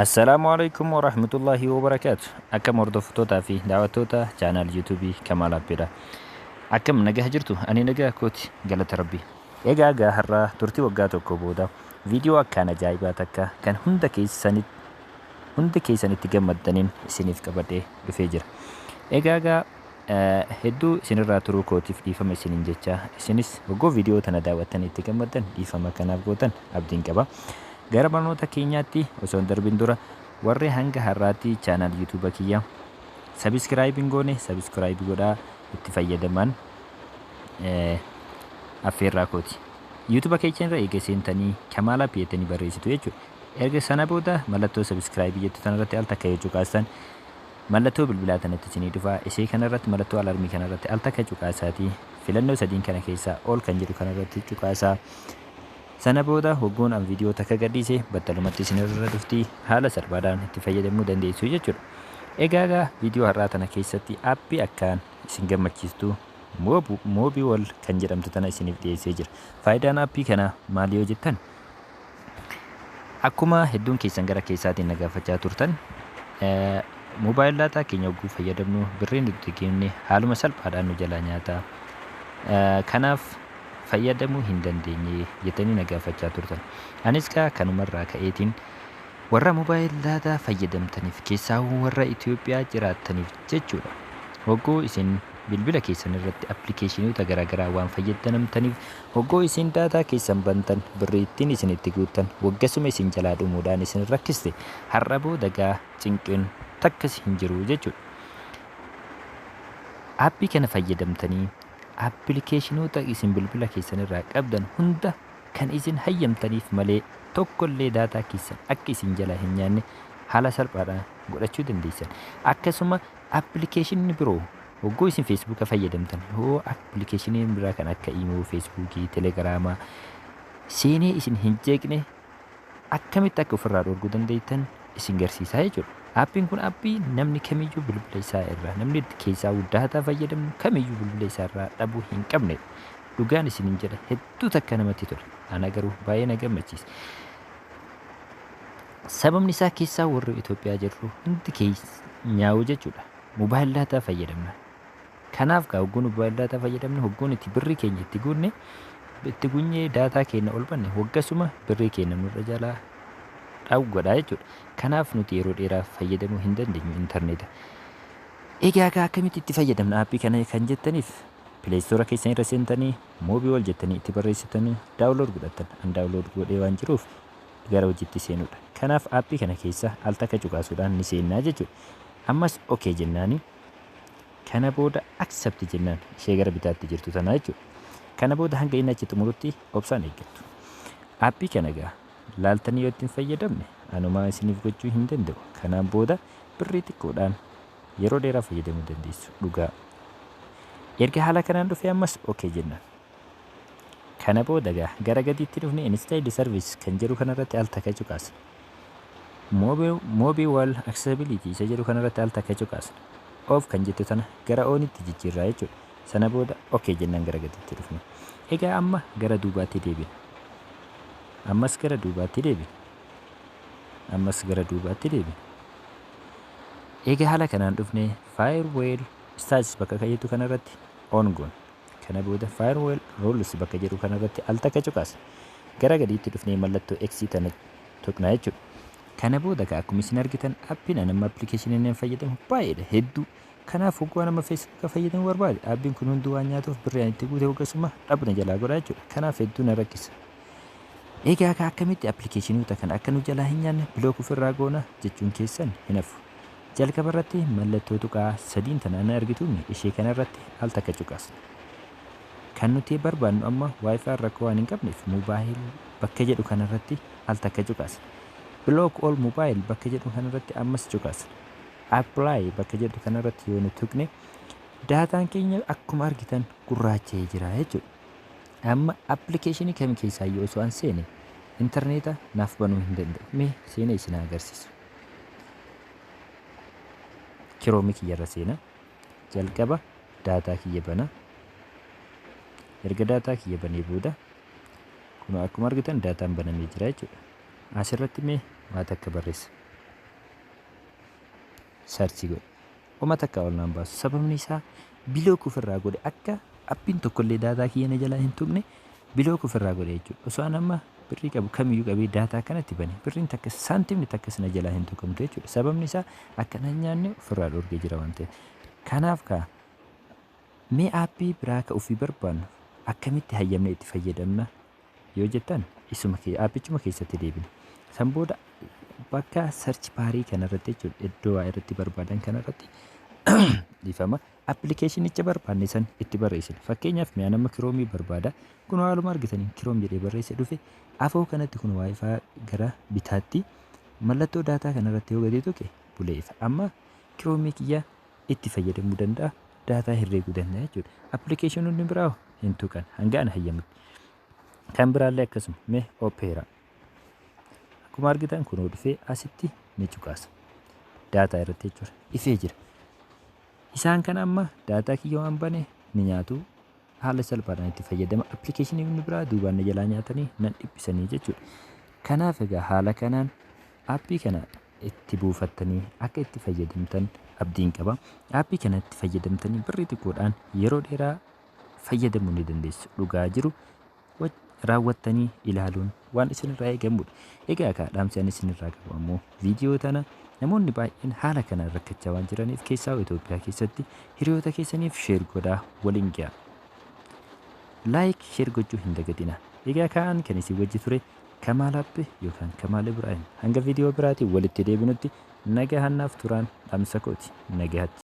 Assalaamu alaikum warahmatullahi wabarakaatu. Akkam hordoftootaa fi daawwattoota chaanaal yuutuubii Kamaal Abbeedha. Akkam nagaa jirtu? Ani nagaa kooti galata rabbi. Egaa egaa har'aa turtii waggaa tokko booda viidiyoo akkaan ajaa'ibaa takka kan hunda keessanitti hunda keessanitti gammaddaniin isiniif qabadhee dhufee jira. Egaa egaa Hedduu isin irraa turuu kootiif dhiifama isiniin jechaa isinis hogguu viidiyoo tana daawwattan itti gammaddan dhiifama akka naaf gootan abdiin qaba. Gara barnoota keenyaatti osoo hin darbin dura warri hanga har'aatti chaanaal yuutuuba kiyya sabiskiraayib hin goone sabiskiraayib godhaa itti fayyadamaan affeerraa kooti. Yuutuuba keecha irra eega seentanii Kamaal App jettanii barreessitu jechuudha. Erga sana booda mallattoo sabiskiraayibii jettu tanarratti al takka yoo cuqaastan Mallattoo bilbilaa tanatti isinii dhufa. Isii kana irratti mallattoo alarmii kana irratti al takka cuqaasaati. Filannoo sadiin kana keessaa all kan jedhu kana irratti cuqaasaa. Sana booda hogguun an viidiyoo takka gadhiise battalumatti isin irra dhufti haala salphaadhaan itti fayyadamuu dandeessu jechuudha. Egaa egaa viidiyoo har'aa tana keessatti appii akkaan isin gammachiistu moobiwol kan jedhamtu tana isiniif dhiyeessee jira. Faayidaan appii kana maal yoo jettan? Akkuma hedduun keessan gara keessaatiin na gaafachaa turtan moobaayil daataa keenya hogguu fayyadamnu birriin itti kenne haaluma salphaadhaan nu jalaa nyaata. Kanaaf fayyadamuu hin dandeenye jettanii na gaafachaa turtan. Anis kaa kanumarraa ka'eetiin warra moobaayil daataa fayyadamtaniif keessaa warra Itoophiyaa jiraattaniif jechuudha. Hogguu isin bilbila keessan irratti appilikeeshinoota garaagaraa waan fayyadamtaniif Hogguu isin daataa keessan bantan, birrii ittiin isin itti guuttan waggasuma isin jalaa dhumuudhaan isin rakkiste. Har'a booda egaa cinqiin takkas hin jiru jechuudha. Aappii kana fayyadamtanii appilikeeshinoota isin bilbila keessan irraa qabdan hunda kan isin hayyamtaniif malee tokkollee daataa keessan akka isin jalaa hin nyaanne haala salphaadhaan godhachuu dandeessan. Akkasuma Appilikeeshinni biroo Hogguu isin feesbuuka fayyadamtan hoo appilikeeshiniin biraa kan akka imoo, feesbuukii, telegiraamaa seenee isin hin jeeqne akkamitti akka ofirraa dhorguu dandeettan isin garsiisaa jechuudha. Aappiin kun aappii namni kamiyyuu bilbila isaa irraa namni itti keessaa daataa fayyadamu kamiyyuu bilbila isaa irraa dhabuu hin qabne dhugaan isin hin jedha hedduu takka namatti tola. Ana garuu baay'ee na gammachiisa. Sababni isaa keessaa warri Itoophiyaa jirru hundi keenyaawuu jechuudha. Mobile data fayyadamna. Kanaaf gaa hogguun mobile data fayyadamne hogguun itti birrii keenya itti guunne itti gunyee daataa keenya ol banne waggasuma birrii keenya nurra jalaa dhawu godha jechuudha. Kanaaf nuti yeroo dheeraaf fayyadamuu hin dandeenyu intarneeta. Egaa gaa akkamitti itti fayyadamna aappii kana kan jettaniif pileestoora keessan irra seentanii moobii wal jettanii itti barreessitanii daawunlood godhattan an daawunlood godhee waan jiruuf gara hojiitti seenuudha. Kanaaf aappii kana keessa al takka cuqaasuudhaan ni seennaa jechuudha. Ammas ok jennaani kana booda accept jennaan ishee gara bitaatti jirtu tana jechuudha. Kana booda hanga inni achi xumurutti obsaan eeggattu. Aappii kana egaa laaltanii yoo ittiin fayyadamne anumaa isiniif gochuu hin danda'u. Kanaan booda birrii xiqqoodhaan yeroo dheeraa fayyadamuu dandeessu dhugaa. Erga haala kanaan dhufee ammas ok jennaan. Kana booda egaa gara gadiitti dhufne Installed Service kan jedhu kanarratti al takka cuqaasna. Mobile, mobile Accessibility isa jedhu kanarratti al takka cuqaasna. Off kan jettu tana gara oonitti jijjiirraa jechuudha. Sana booda OK jennaan gara gadiitti dhufne. Egaa amma gara duubaatti deebina. Ammas gara duubaatti deebina. Ammas gara duubaatti deebina. Egaa haala kanaan dhufne Firewall Status bakka kan jettu kanarratti on goona. Kana booda Firewall Rules bakka jedhu kanarratti al takka cuqaasa. Gara gadiitti dhufnee mallattoo X tana tuqna jechuudha. Kana booda ka akkuma isin argitan appiin an amma appilikeeshiniin an fayyadamu baay'eedha hedduu. Kanaaf hogguu an amma feesbuuka fayyadamu barbaade appiin kun hunduu waan nyaatuuf birri an itti guute hoggasuma dhabna jalaa godha jechuudha. Kanaaf hedduu na rakkisa. Egaa ka akkamitti appilikeeshinoota kana akka nu jalaa hin nyaanne bilook ofirraa goona jechuun keessan hin hafu. Jalqaba irratti mallattoo tuqaa sadiin tanaan hin argituumi ishee kana irratti al takka cuqasna. Kan nuti barbaannu amma wifi rakkoo waan hin qabneef mobile bakka jedhu kana irratti al takka cuqasna. Block all mobile bakka jedhu kana irratti ammas cuqasna. Apply bakka jedhu kana irratti yoo nu tuqne daataan keenya akkuma argitan gurraacha'ee jira jechuudha. Amma appilikeeshinii kami keessaayyuu osoo an seene intarneeta naaf banuu hin danda'u. Mee seenee isin agarsiisu. Chrome kiyya irra seena. Jalqaba daataa kiyya bana. Erga daataa kiyya banee booda kun akkuma argitan daataan banamee jira jechuudha. Asirratti mee waa takka barreessa. Sarchii godha. Homa takkaa ol naan baasu. Sababni isaa bilook ofirraa godhe akka appiin tokkollee daataa kiyya na jalaa hin tuqne bilook ofirraa godhe jechuudha. Osoo an amma birrii qabu kamiyyuu qabee daataa kanatti bane birriin takka saantimni takkas na jalaa hin tuqamtu jechuudha. Sababni isaa akka nan nyaanne ofirraa dhorgee jira waan ta'eef. Kanaaf kaa mee aappii biraa ka ofii barbaannu akkamitti hayyamnee itti fayyadamna yoo jettan isuma kee aappichuma keessatti deebina. San booda bakka search baarii kanarratti jechuudha iddoo waa irratti barbaadan kanarratti dhiifama appilikeeshinicha barbaanne san itti barreessina. Fakkeenyaaf mi'a nama kiroomii barbaada. Kun haaluma argitaniin kiroom jedhee barreesse dhufe afoo kanatti kun waayifaa gara bitaatti mallattoo daataa kanarratti yoo gadi tuqe bulee ifa. Amma kiroomii kiyya itti fayyadamuu danda'a, daataa herreeguu danda'a jechuudha. Appilikeeshinoonni biraa hoo hin tuqan hanga ana hayyamutti. Kan biraallee akkasuma mee Opera. Akkuma argitan kunoo dhufee asitti ni cuqaasa. Daataa irratti jechuudha. Ifee jira. Isaan kana amma daataa kiyya waan bane ni nyaatu. Haala salphaadhaan itti fayyadama. Appilikeeshinii inni biraa duubaan na jalaa nyaatanii nan dhiphisanii jechuudha. Kanaaf egaa haala kanaan appii kana itti buufattanii akka itti fayyadamtan abdiin qaba. Aappii kanatti fayyadamtanii birrii xiqqoodhaan yeroo dheeraa fayyadamuu ni dandeessu. Dhugaa jiru raawwattanii ilaaluun waan isinirraa eegamudha. Egaa akka dhaamsi ani isinirraa qabu ammoo viidiyoo tana namoonni baay'een haala kanaan rakkachaa waan jiraniif keessaa Itoophiyaa keessatti hiriyoota keessaniif sheer godhaa waliin ga'a. Laayik sheer gochuu hin dagatina. Egaa ka'an kan isin wajji ture Kamaal Abbe yookaan Kamaal Ibraahim. Hanga viidiyoo biraatiin walitti deebinutti nagahaan naaf turaan dhamsa kooti. Nagahatti.